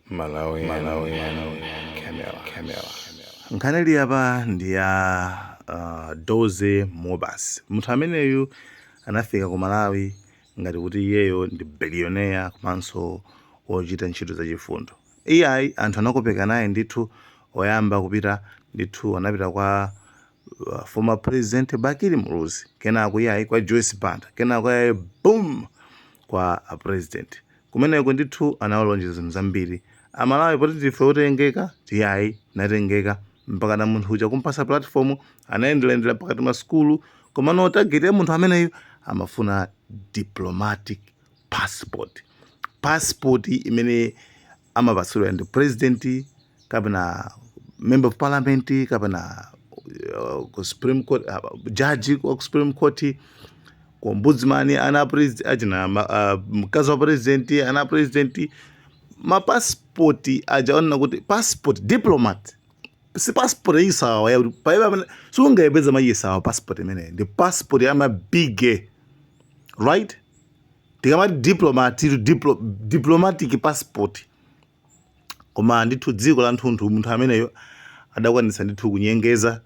Malawian, Malawian, Camera, Camera. Nkhani ili apa ndi ya uh, Dozy Mmobuosi. Munthu ameneyu anafika ku Malawi ngati kuti iyeyo ndi billionaire komanso wochita ntchito zachifundo. Iyayi anthu anakopeka naye ndithu oyamba kupita ndithu anapita kwa uh, former president Bakili Muluzi kenako iyayi kwa Joyce Banda kenako iyayi boom kwa a president Kumeneko ndithu anawalonjeza zinthu zambiri amalawi poti ndife otengeka iyayi tinatengeka mpakana munthu uja kumpasa platform anayendelayendela pakati ma sukulu komano target ya munthu ameneyu amafuna diplomatic passport passport imene amapatsidwa ndi president kapena member of parliament kapena uh, ku supreme court uh, judge wa ku supreme court ku ombudsman ana president achina ma- ah, mkazi wa president ana president mapasipoti aja onena kuti passport diplomat si passport yachisawawa yakuti palibe amene sungayipeze mwachisawawa passport imeneyi ndi passport ya mabige right tikamati diplomat to diplo, diplomatic passport Koma ndithu dziko lathunthu munthu ameneyo adakwanitsa ndithu kunyengeza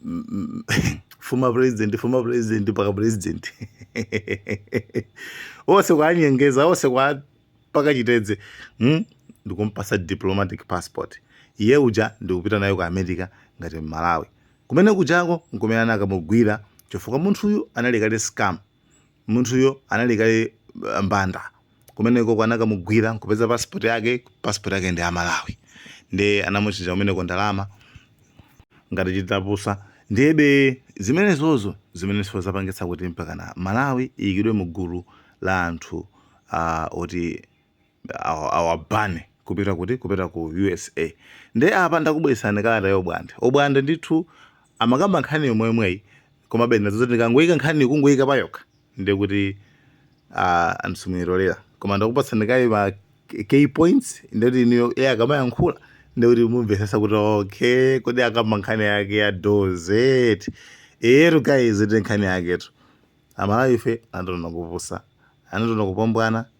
mm, mm, former president former president mpaka president onse kuwanyengeza onse kuwapaka chitedze mm? ndikumpasa diplomatic passport iye uja ndikupita nayo ku america ngati mmalawi kumene kujako nkumene anakamugwira chifukwa munthuyu anali kale scam Munthuyo anali kale mbanda kumenekoko anakamugwira nkupeza passport yake passport yake ndi ya Malawi nde anamutchaja kumeneko ndalama ngati chindapusa ndiyebe zimenezozo zimenenso zapangitsa kuti mpakana Malawi iyikidwe mu gulu la anthu uh, oti awabane kupita kuti kupita ku usa nde apa ndakubweresani kalata ya obwande obwande ndithu amakamba nkhani yomweyomweyi komabe ndinaona zoti ndikangoyika nkhani kungoyika payokha ndiye kuti uh, anthu simuyitolera koma ndakupatsani kaye ma key points ndiye kuti inuyo iye akamayankhula ndiye kuti mumvesesa kuti okay kodi akamba nkhani yake ya dozy eyetu guys ndi nkhani yaketu amalawi ife anationa kupusa anationa kumbwambwana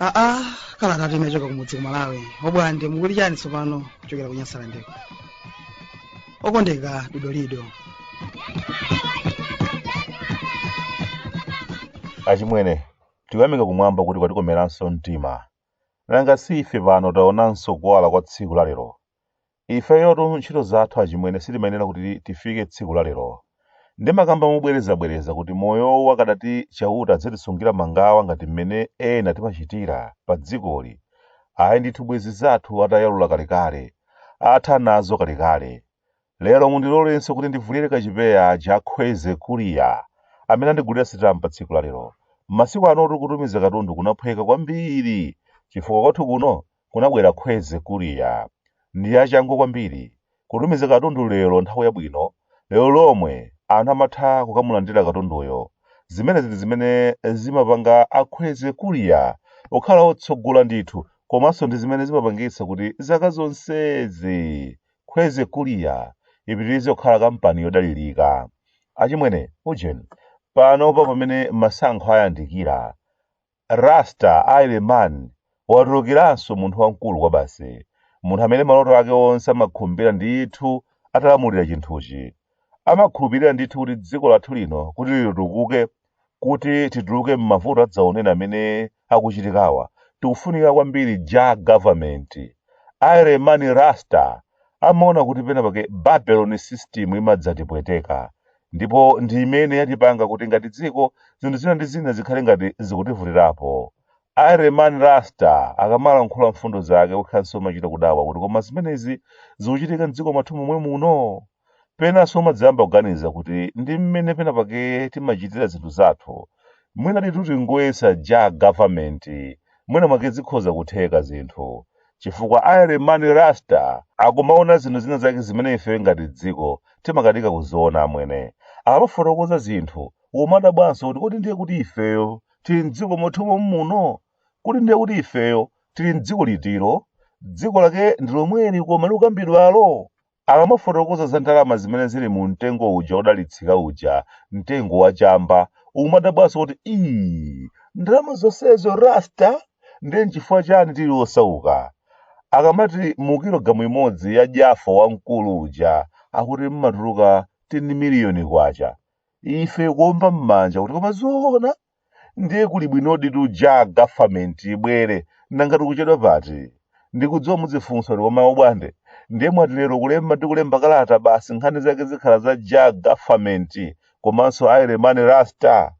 aa kalatatu imachoka kumudzi ku malawi obwande mukuli chani tsopano kuchokera ku nyasalandeko okondeka didolido achimwene tikuyamika kumwamba kuti kwatikomeranso mtima Nanga si ife pano taonanso kuwala kwa tsiku la lero? Ifeyotu ntchito zathu achimwene sitimayenera kuti tifike tsiku la lero. Ndimakamba mobwerezabwereza kuti moyowu akadati Chauta azitisungira mangawa ngati m'mene ena timachitira pa dzikoli, ayi ndithu bwezi zathu atayalula kalekale, atha nazo kalekale. Lero mundilolenso kuti ndivulire kachipewa a Khwezi Courier amene andigulira sitampa tsiku la lero. Masiku anotu kutumiza katundu kunaphweka kwambiri chifukwa kwathu kuno kunabwera Khwezi Courier. Ndi achangu kwambiri. Kutumiza katundu lero nthawi yabwino, lero lomwe anthu amatha kukamulandira katunduyo. Zimenezi ndi zimene zimapanga a Khwezi Courier kukhala otsogola ndithu komanso ndi zimene zimapangitsa kuti zaka zonsezi Khwezi Courier ipitirize kukhala kampani yodalirika achimwene ujeni panopa pamene masankho ayandikira Rasta Ireman watulukiranso munthu wamkulu kwabasi munthu amene maloto ake onse amakhumbira ndithu atalamulira chinthuchi amakhulupirira ndithu kuti dziko lathu lino kuti litukuke kuti tituluke m'mavuto adzaoneni amene akuchitikawa tikufunika kwambiri Jah government Ireman Rasta amaona kuti pena pake Babylon system imadzatipweteka ndipo ndi imene yatipanga kuti ngati dziko zinthu zina ndi zina zikhale ngati zikutivutirapo Ireman Rasta akamalankhula mfundo zake ukhaanso umachita kudabwa kuti koma zimenezi zikuchitika mdziko mwathu momwe muno Penanso umadzayamba kuganiza kuti ndi mmene pena pake timachitira zinthu zathu, mwina titati tingoyesa Jah government, mwina mwake zikhoza kutheka zinthu. Chifukwa Ireman Rasta akumaona zinthu zina zake zimene ifeyo ngati dziko timakanika kuziona amwene. Akamafotokoza zinthu, umadabwanso kuti kodi ndiye kuti ifeyo tili m'dziko mwathu mommuno? Kodi ndiye kuti ifeyo tili m'dziko litilo? Dziko lake ndi lomweli koma likukambidwalo? Akamafotokoza za ndalama zimene zili mu mtengo uja wodalitsika uja, mtengo wa chamba, umadabwanso kuti, Iii, ndalama zonsezo Rasta? Ndiye n'chifukwa chani tili osauka? Akamati mu kilogalamu imodzi ya jaffa wamkulu uja akuti mmatuluka 10 miliyoni kwacha. Ife kuomba m'manja kuti koma zoona? ndiye kuli bwinoditu Jah government ibwere nanga tikuchedwa pati ndikudziwa muzifunsa kuti koma Obwande ndiye mwati lero kulemba ndi kulemba kalata basi nkhani zake zikhala za Jah government komanso Ireman Rasta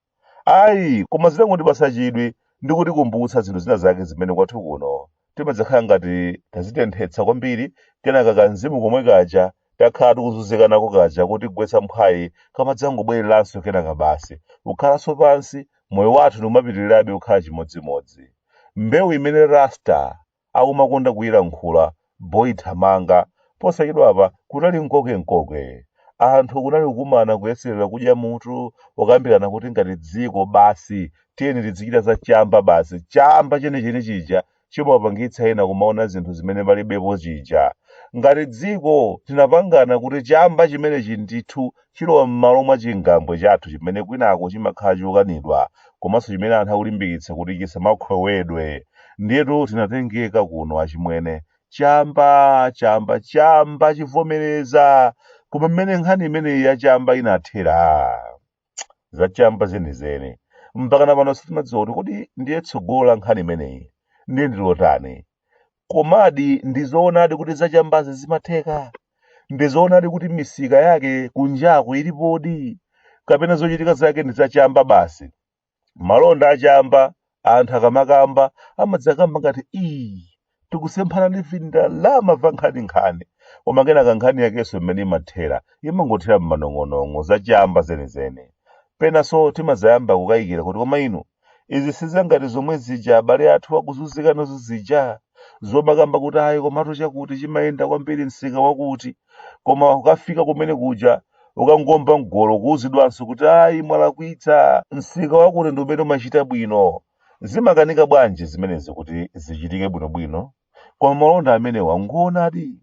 ayi koma zitangondipatsa chidwi ndi kutikumbutsa zinthu zina zake zimene kwathu kuno timadzakhala ngati tazitenthetsa kwambiri kenaka kamzimu komwe kaja takhala tikuzunzika nako kaja kotigwetsa mphwayi kamadzangobwereranso kenaka basi kukhalanso pansi moyo wathu ndikumapitirirabe kukhala chimodzimodzi mbewu imene rasta akumakonda kuyilankhula boyithamanga posachedwapa kunali mkokemkoke anthu kunali kukumana kuyeserera kudya mutu kukambirana kuti ngati dziko basi tiyeni tizichita za chamba basi chamba chenicheni chija chimapangitsa ena kumaona zinthu zimene palibepo chija ngati dziko tinapangana kuti chamba chimenechi ndithu chilowa m'malo mwa chingambwe chathu chimene kwinako chimakhala chokanidwa komanso chimene anthu akulimbikitsa kuti chisamakhwewedwe ndiyetu tinatengeka kuno achimwene chamba chamba chamba chivomerezeke koma mmene nkhani imeneyi ya chamba inathera zachamba zenizeni mpakana pano sitimadziwa kuti kodi ndiye tsogolo la nkhani imeneyi ndiye ndilotani komadi ndizoonadi kuti zachambazi zimatheka ndizoonadi kuti misika yake kunjaku ilipodi kapena zochitika zake ndi zachamba basi malonda achamba anthu akamakamba amadzakamba ngati ii tikusemphana ndi vindalama va nkhaninkhani koma kenaka nkhani yakenso imene imathera imangothera m'manong'onong'o zachamba zenizeni penanso timadzayamba kukayikira kuti koma inu izi sizangati zomwe zija abale athu akuzunzikanazo zija zomakamba kuti ayi komatu chakuti chimayenda kwambiri msika wakuti koma ukafika kumene kuja ukangomba mgolo kuuzidwanso kuti ayi mwalakwitsa msika wakuti ndi umene umachita bwino zimakanika bwanji zimenezi kuti zichitike bwinobwino koma malonda amenewa ngoonadi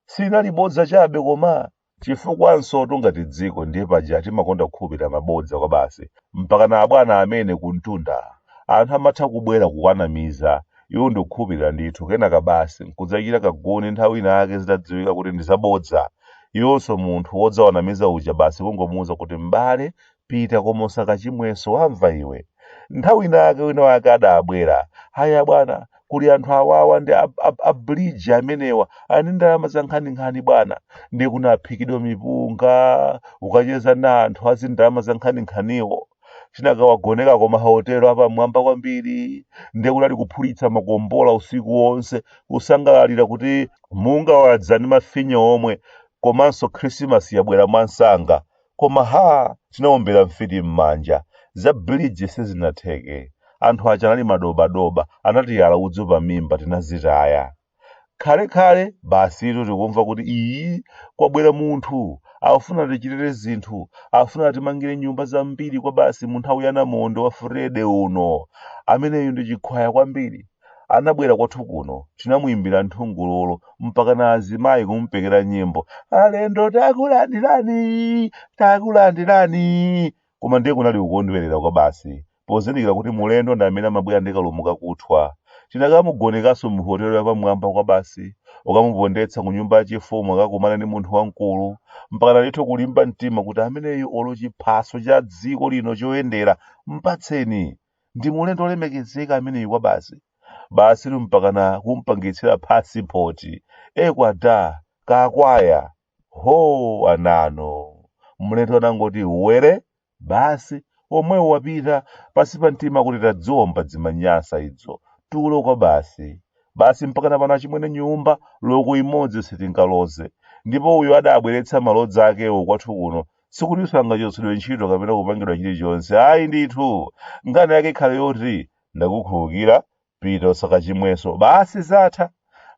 sinali bodza chabe koma chifukwanso tungati dziko ndiye paja timakonda kukhulupirira mabodza kwabasi mpakana abwana amene kumtunda anthu amatha kubwera kuwanamiza iwo ndikukhulupirira ndithu kenaka basi nkudzachita kaguni nthawi ina yake zitadziwika kuti ndi zabodza iwonso munthu wodzawanamiza uja basi kungomuwuza kuti m'bale pita koma usakachimwenso wamva iwe nthawi ina yake wina wake adabwera aya bwana kuli anthu awawa ndi ab- ab- abridge amenewa eni ndalama za nkhaninkhani bwana ndi kunaphikidwa mipunga kukacheza na anthu azindalama za nkhaninkhaniwo tinakawagoneka ku mahotelo apamwamba kwambiri ndiye kunali kuphulitsa makombola usiku wonse kusangalalira kuti munga wadza ndi mafinya omwe komanso khrisimasi yabwera mwansanga koma ha tinaombera mfiti m'manja za biliji sizinatheke anthu aja anali madobadoba anatiyala udzu pa mimba tinazitaya khalekhale basitu tikumva kuti iyi kwabwera munthu akufuna tichitire zinthu akufuna timangire nyumba zambiri kwa basi mu nthawi ya namondo wa Frede uno ameneyu ndi chikhwaya kwambiri anabwera kwathu kuno tinamuyimbira nthungululu mpaka na azimayi kumupekera nyimbo alendo takulandirani takulandirani Koma ndiye kunali kukondwerera kwabasi pozindikira kuti mulendo ndi amene amabwera ndi kalumo kakuthwa. Tinakamugonekanso m'hotelo yapamwamba kwabasi, kukamupondetsa ku nyumba yachifumu akakumane ndi munthu wamkulu, mpakana ndithu kulimba mtima kuti ameneyu olo chiphaso cha dziko lino choyendera mpatseni. Ndi mulendo wolemekezeka ameneyu kwabasi. Basitu mpakana kumpangitsira phasipoti. Ee kwada! Kakwaya! Hoo anano! Mlendo anangoti were, basi, womwewo wapita, pansi pa mtima kuti tadziwomba dzimanyasa idzo, tulo kwabasi. Basi mpakana pano achimwene nyumba loko imodzi sitingaloze. Ndipo uyo adabweretsa malodza akewo kwathu kuno, sikutinso angachotsedwe ntchito kapena kupangidwa chilichonse, ayi ndithu! Nkhani yake ikhale yoti, ndakukhulukira, pita usakachimwenso basi zatha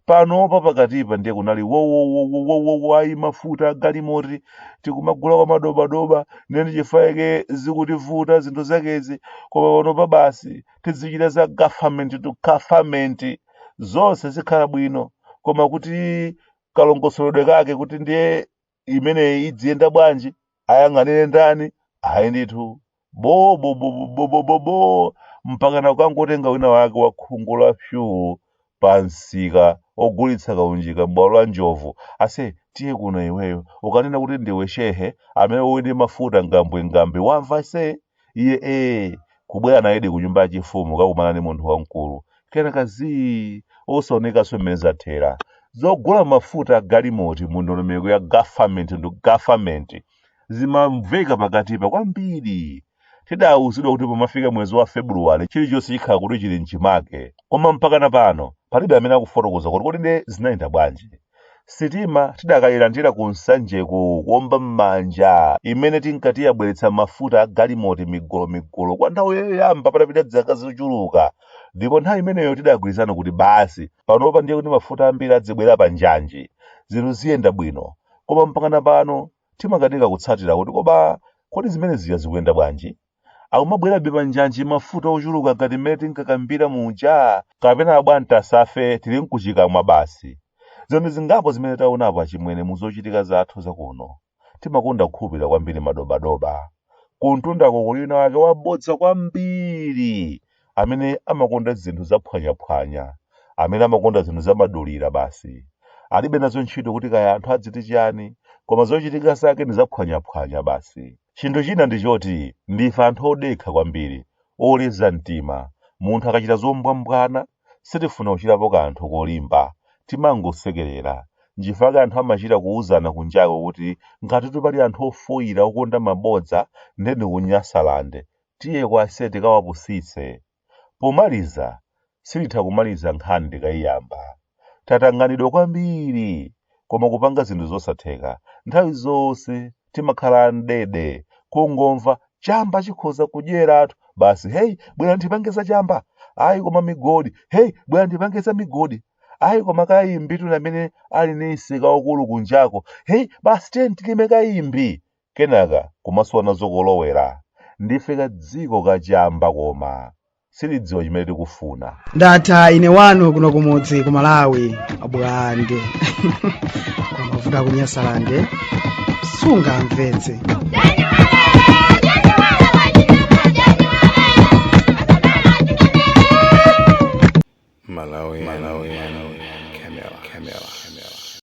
panopa pakatipa ndiye kunali wowowowowowo ayi mafuta agalimoti tikumagula kwa madobadoba nde nchifake zikutivuta zinthu zakezi koma panopa basi tizichita za government to government zonse zikhala bwino koma kuti kalongosoledwe kake kuti ndiye imeneyi idziyenda bwanji ayang'anire ndani ayi ndithu bo bo bo bo bo bo bo bo mpakana kukangotenga wina wake wa khungu la fyuu pa msika ogulitsa kaunjika m'bwalo la njovu ase tiye kuno iweyo ukanena kuti ndiwe shehe amene uli ndi mafuta ngambwingambwi wamva se iye ee kubwera nayedi ku nyumba yachifumu kakumana ndi munthu wamkulu kenaka zii osaonekanso mmene zathera zogula mafuta a galimoti mu ndondomeko ya government ndi government zimamveka pakatipa kwambiri tidawuzidwa kuti pomafika mwezi wa februwale chilichonse chikhala kuti chili mchimake koma mpakana pano palibe amene akufotokoza kuti kodi nde zinayenda bwanji Sitima tidakayilandira ku Nsanjeku kuomba m'manja imene tinkati yabweretsa mafuta a galimoti migolomigolo kwa nthawi yoyamba patapita zaka zochuluka ndipo nthawi imeneyo tidagwirizana kuti basi panopa ndiye kuti mafuta ambiri adzibwera pa njanji zinthu ziyenda bwino koma mpakana pano timakanika kutsatira kuti koma kodi zimene zija zikuyenda bwanji akumabwerabe panjanji mafuta ochuluka ngati mmene tinkakambira muja kapena abwantasafe tili nkukamwa basi zinthu zingapo zimene taonapo achimwene mu zochitika zathu zakuno timakonda kukhulupirira kwambiri madobadoba kuntundako kuli wina wake wabodza kwambiri amene amakonda zinthu zaphwanyaphwanya, amene amakonda zinthu zamadulira basi. Alibe nazo ntchito kuti kaya anthu adziti chiyani, koma zochitika zake ndi zaphwanyaphwanya basi. Chinthu china ndi choti ndife anthu odekha kwambiri, oleza mtima. Munthu akachita zombwambwana, sitifuna kuchitapo kanthu kolimba. Timangosekerera. Nchifukwa chake anthu amachita kuuzana kunjako kuti ngatitu pali anthu ofoira okonda mabodza nde ndi ku Nyasalande. Tiyeko ase tikawapusitse. Pomaliza, sititha kumaliza nkhani tikaiyamba. Tatanganidwa kwambiri, koma kupanga zinthu zosatheka. Nthawi zonse timakhala amdede, kungomva chamba chikhoza kudyeratu, basi hey, bwera ndipange za chamba, ayi koma migodi, hey, bwera ndipange za migodi, ayi koma kayimbitu ni amene ali ni msika waukulu kunjako, hey, basi tiye tilime kayimbi. kenaka kumasowa nazo kolowera. Ndife ka dziko ka chamba koma sitidziwa chimene tikufuna. ndatha ine wanu kuno kumudzi ku Malawi bwande kumavuta kunyasalande sungamvetse.